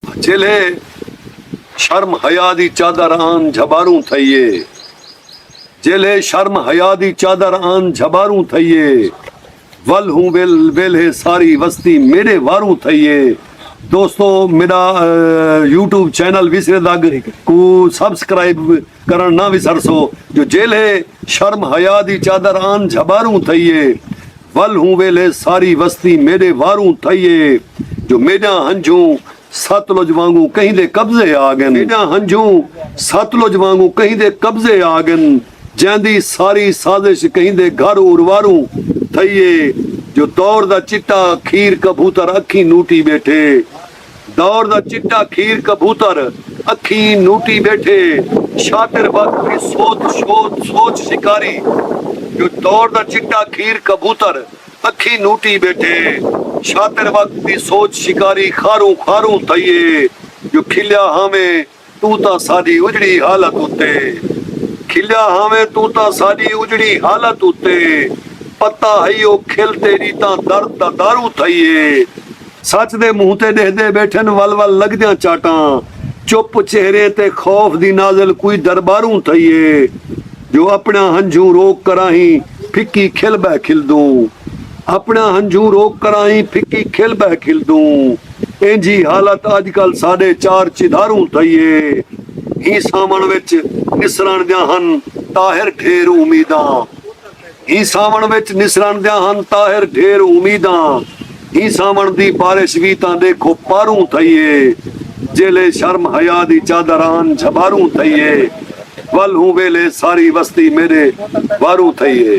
جیلھے شرم حیا دی چادر آن جھباروں تھئیے جیلھے شرم حیا دی چادر آن جھباروں تھئیے ول ہوں ول ویلھے ساری وستی میڈے واروں تھئیے دوستو میڈا یوٹیوب چینل وسرے دگ کو سبسکرائب کرن نہ وسرسو جو جیلھے شرم حیا دی چادر آن جھباروں تھئیے ول ہوں ویلھے ساری وستی میڈے واروں تھئیے جو میݙاں ہنجھوں ستلج وانگوں کہیں دے قبضے آ ڳن میݙاں ہنجھوں ستلج وانگوں کہیں دے قبضے آ ڳن جیندی ساری سازش کہیں دے گھر ارواروں تھئی اے جو دور دا چٹا کھیر کبوتر اکھیں نوٹی ٻیٹھے دور دا چٹا کھیر کبوتر اکھیں نوٹی ٻیٹھے شاطر وقت دی سوت شوت سوچ شکاری جو دور دا چٹا کھیر کبوتر اکھیں نوٹی ٻیٹھے شاطر وقت دی سوچ شکاری خاروں خاروں تھئی اے جو کھلیا ہاویں توں تاں ساݙی اجڑی حالت اتے کھلیا ہاویں توں تاں ساݙی اجڑی حالت اتے پتہ ہئی او کھل تیݙی تاں درد دا دارو تھئی اے سچ دے منہ تے ݙیہدے ٻیٹھن ول ول لڳدیاں چاٹاں چپ چہریں تے خوف دی نازل کوئی درباروں تھئیے جو اپݨیاں ہنجھوں روک کراہیں پھکی کھل ٻہہ کھلدوں اپݨیاں ہنجھوں روک کراہیں پھکی کھل ٻہہ کھلدوں اینجھی حالت اڄ کل ساݙے چار چدھاروں تھئیے ہی ساوݨ وچ نسرݨ دیاں ہن طاہر ڈھیر امیداں ہی ساوݨ وچ نسرݨ دیاں ہن طاہر ڈھیر امیداں ہی ساوݨ دی بارش وی تاں ݙیکھو پاروں تھئی اے جیلھے شرم حیا دی چادر آن جھباروں تھئی اے ول ہوں ویلھے ساری وستی میݙے واروں تھئی اے۔